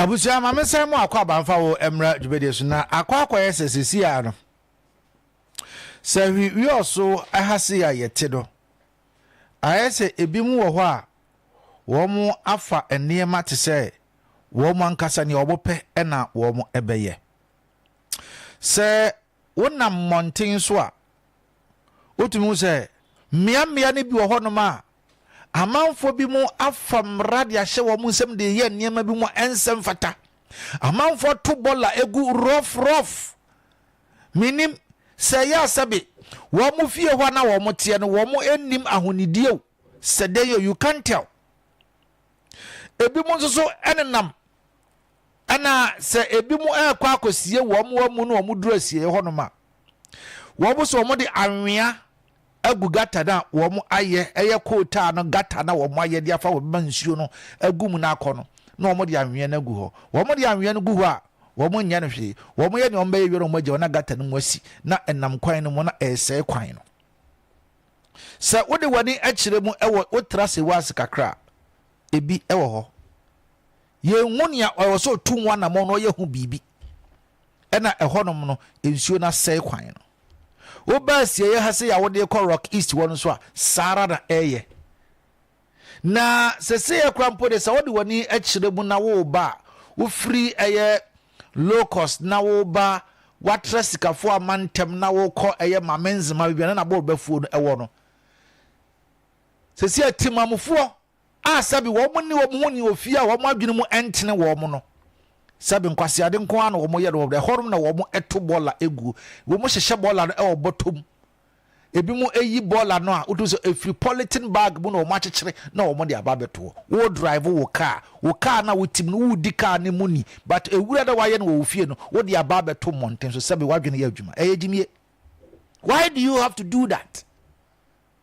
Abusua, ma mensan mo akwaaba mfa wo mmra dwumadie so na akɔ akɔyɛ sɛ sɛsi a no sɛ hwi wiɔso ha se a yɛte no ayɛ sɛ ebi mu wɔ hɔ a wɔn afa nneɛma te sɛ wɔn ankasa nea wɔn pɛ na wɔn bɛyɛ sɛ wonam mmɔnten so a wotumi hu sɛ mmeammea no bi wɔ hɔnom a Amanfoɔ binom afa mmara de ahyɛ wɔn nsam de reyɛ nneɛma bi mu a ɛnsɛ mfata. Amanfoɔ ato bɔla agu rough rough. Menim sɛ ɛyɛ a sɛbe wɔn fie hɔ a na wɔn teɛ no wɔn nnim ahonidie o sɛ dɛn o you can't tell. Ebinom nso so nenam Ɛna sɛ ebinom rekɔ akɔsie wɔn amu na wɔduru asieeɛ hɔnom a, wɔn so wɔde anwea agu gata no a wɔayɛ, ɛyɛ coal tar no gata no a wɔayɛ de afa wɔbɛma nsuo no agu mu na akɔ no, na wɔde anwea no agu hɔ. Wɔde anwea no gu hɔ a, wɔnyɛ no hwee. Wɔyɛ nea wɔbɛyɛ wie no, wɔagya wɔn gata no mu asi na ɛnam kwan no mu na ɛresɛe kwan no. Sɛ wode w'ani kyerɛ mu wɔ wotra Sewase kakra a, ebi wɔ hɔ. Yɛnhu nea ɔwɔ sɛ ɔtu ho anammɔn na ɔyɛ ho biribi na ɛhɔnom no nsuo no asɛe kwan no. Woba asieeɛ ha sei a wode rekɔ Rock East hɔ no nso a, saa ara na ɛreyɛ. Na seseiɛ kora mpo de sɛ wode w'ani kyerɛ mu na woreba a, wofiri ɛyɛ low cost na woreba watra sikafoɔ a mantam na worekɔ ɛyɛ Mamenzema baabi a na Nabor Bafuo no ɛwɔ no. Seseiɛ Temamufoɔ a sɛbi wɔn ne wɔn ho ni wɔ fie a wɔn adwene mu ntene wɔn no. Sɛbi nkwaseade nko ara na wɔyɛ no wɔ ɛhɔ nom na wɔto bɔɔla gu. Wɔhyehyɛ bɔɔla no wɔ bɔtɔ mu. Ebinom ayi bɔɔla no a wotu sɛ efiri pɔlitin bag mu na wɔakyekyere na wɔde aba abɛtoɔ. Wo drive wo kaa, wo kaa no a wotim no wodi kaa no mu ni but ewura dɛ wayɛ no wɔ wo fie no wode aba abɛto mmɔnten so sɛbi w'adwene yɛ adwuma. Ɛyɛ gyimie. Why do you have to do that?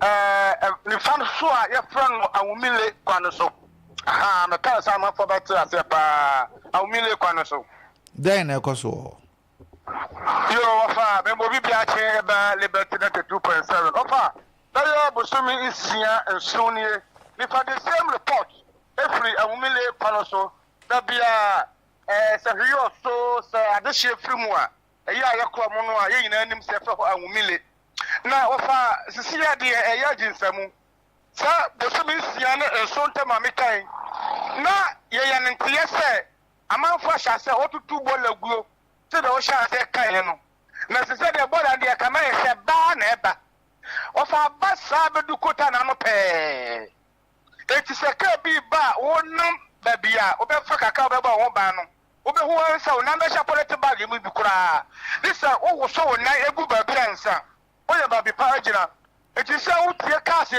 Ɛɛ, nifa no so a yɛfrɛ no Awumile kwan no so. Ahaa, mekae sɛ amanfoɔ bɛte aseɛ paa. Awumile kwan no so. Dɛn na ɛkɔ so wɔ hɔ? Yoo, ɔfa, mema obi bi akye ba Liberty Delta two point seven. Ɔfa, bɛyɛ bosome nsia, nson nie, nifa the same report firi Awumile kwan no so. Da biara, ɛɛ, sɛ hwee ɔso, sɛ adehyeɛ firi mu a, Ɛyɛ a yɛkɔ mu no a, yɛn nyinaa nim sɛ ɛfɛ hɔ anwumile, na wɔfa sisi a deɛ ɛyɛ adwinsa mu. Sɛ bosome nsia ne nson ntam a mekan na yɛyɛ no nteɛ sɛ amanfoɔ ahyɛ aseɛ wɔtutu bɔɔla guo sɛ deɛ wɔhyɛ aseɛ kaeɛ no. Na ɛsɛ sɛ deɛ bɔɔla no deɛ ɛka na yɛ sɛ baa na ɛba. Wɔfa aba saa bɛdu kota no ano pɛɛ. Enti sɛ kaa bi ba a wonam baabi a wobɛfa kakra a wobɛbɔ ho ban no, Wubehu ara sɛ wo nan bɛhyɛ pɔlɛte bag mu bi koraa ne sɛ wowoso wo nan gu baabi a nsã. Woyɛ baabi pa agyina. Enti sɛ wutie cars